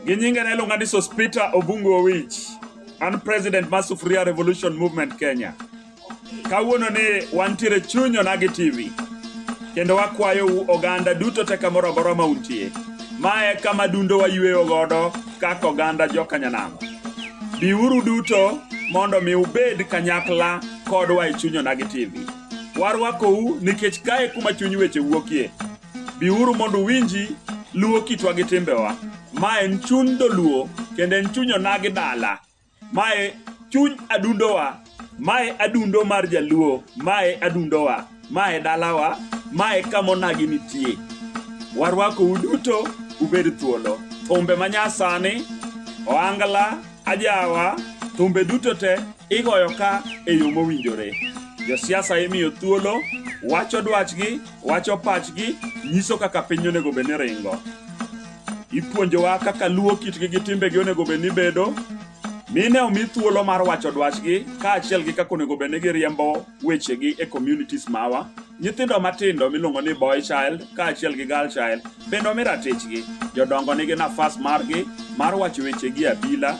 gi nyinge ne iluonga ni Sospita Obungu Owich. An president mar Sufuria Revolution Movement Kenya. Kawuono ni wantiere chuny Onagi TV kendo wakwayo u oganda duto te kamoro amora ma untie. Ma e kama dundo wayweyo godo kaka oganda jokanyanam biuru duto mondo mi ubed kanyakla kodwa e chuny onagi tv warwakou nikech kae kuma chuny weche wuokie biuru mondo uwinji luwo kitwa gi timbewa ma en chuny dholuo kendo en chuny onagi dala Mae chuny adundowa, mae adundo mar Jaluo, mae adundowa, mae dalawa, mae kamonagi nitie. Warwako uduto ubed thuolo. Thumbe manyasani, oangla, ajawa, thumbe duto te igoyo ka e yo mowinjore. Josiasa imiyo thuolo, wacho dwachgi, wacho pachgi, nyiso kaka piny onego bed ni ringo. Ipuonjowa kaka luwo kitgi gi timbegi onego bed ni bedo, mine omi thuolo mar wacho dwachgi kaachiel gi kaka onego bed ni giriembo wechegi e communities mawa. Nyithindo matindo miluongo ni boy child kaachiel gi girl child bende omi ratichgi. Jodongo nigi nafas margi mar wacho wechegi e abila.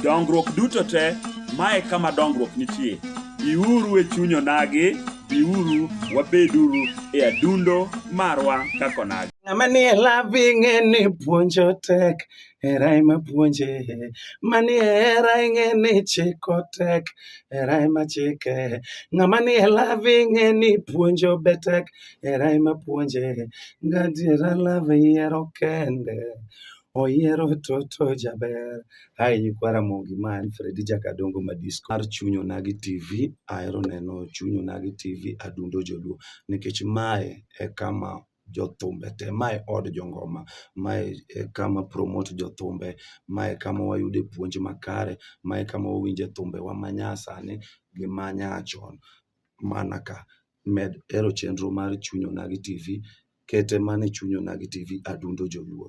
Dongruok duto te, ma e kama dongruok nitie. Biuru e chuny onagi, biuru wabeduru e adundo marwa kaka onagi. Ng'ama nie lavi ng'e ni puonjo tek, hera ema puonje. Manie hera ing'e ni chiko tek, hera ema chike. Ng'ama nie lavi ng'e ni puonjo be tek, hera ema puonje. Gadiera love yiero kende, oyiero toto jaber. Hi, nyikwa Ramogi ma en Fredi Jakadongo Madisko mar Chuny Onagi TV. Ahero neno Chuny Onagi TV adundo joluo nikech mae e kama jothumbe te. Ma e od jongoma, ma e kama promote jothumbe, ma e kama wayude puonj makare, ma e kama wawinje thumbewa ma nyasani gi ma nyachon. Mana ka, med hero chenro mar Chuny Onagi TV, kete mana e Chuny Onagi TV, Adundo Joluo.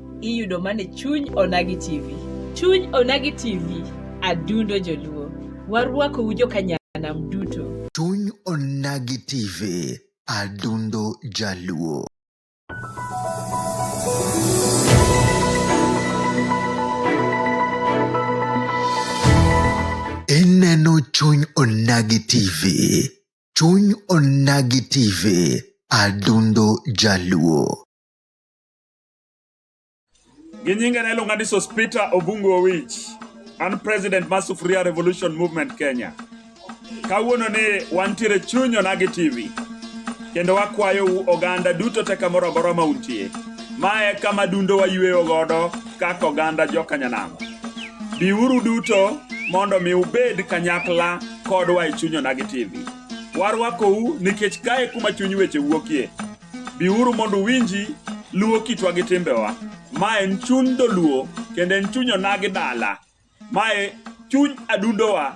iyudo mane chuny onagi tv chuny onagi tv adundo joluo warwakou jokanyanam duto chuny onagi tv adundo jaluo ineno chuny onagi tv chuny onagi tv adundo jaluo Gi nyinge ne iluonga ni Sospita Obungu Owich. An president mar Sufuria Revolution Movement Kenya. Kawuono ni wantiere chuny Onagi TV. Kendo wakwayo u oganda duto te kamoro amora ma untie. Mae kama dundo wayueyo godo kaka oganda jokanyanam. Biuru duto mondo mi ubed kanyakla kodwa e chuny Onagi TV. Warwakou nikech kae kuma chuny weche wuokie. Biuru mondo uwinji luo kitwa gi timbewa. Ma en chuny dholuo kendo en chuny onagi dala. Mae chuny adundowa.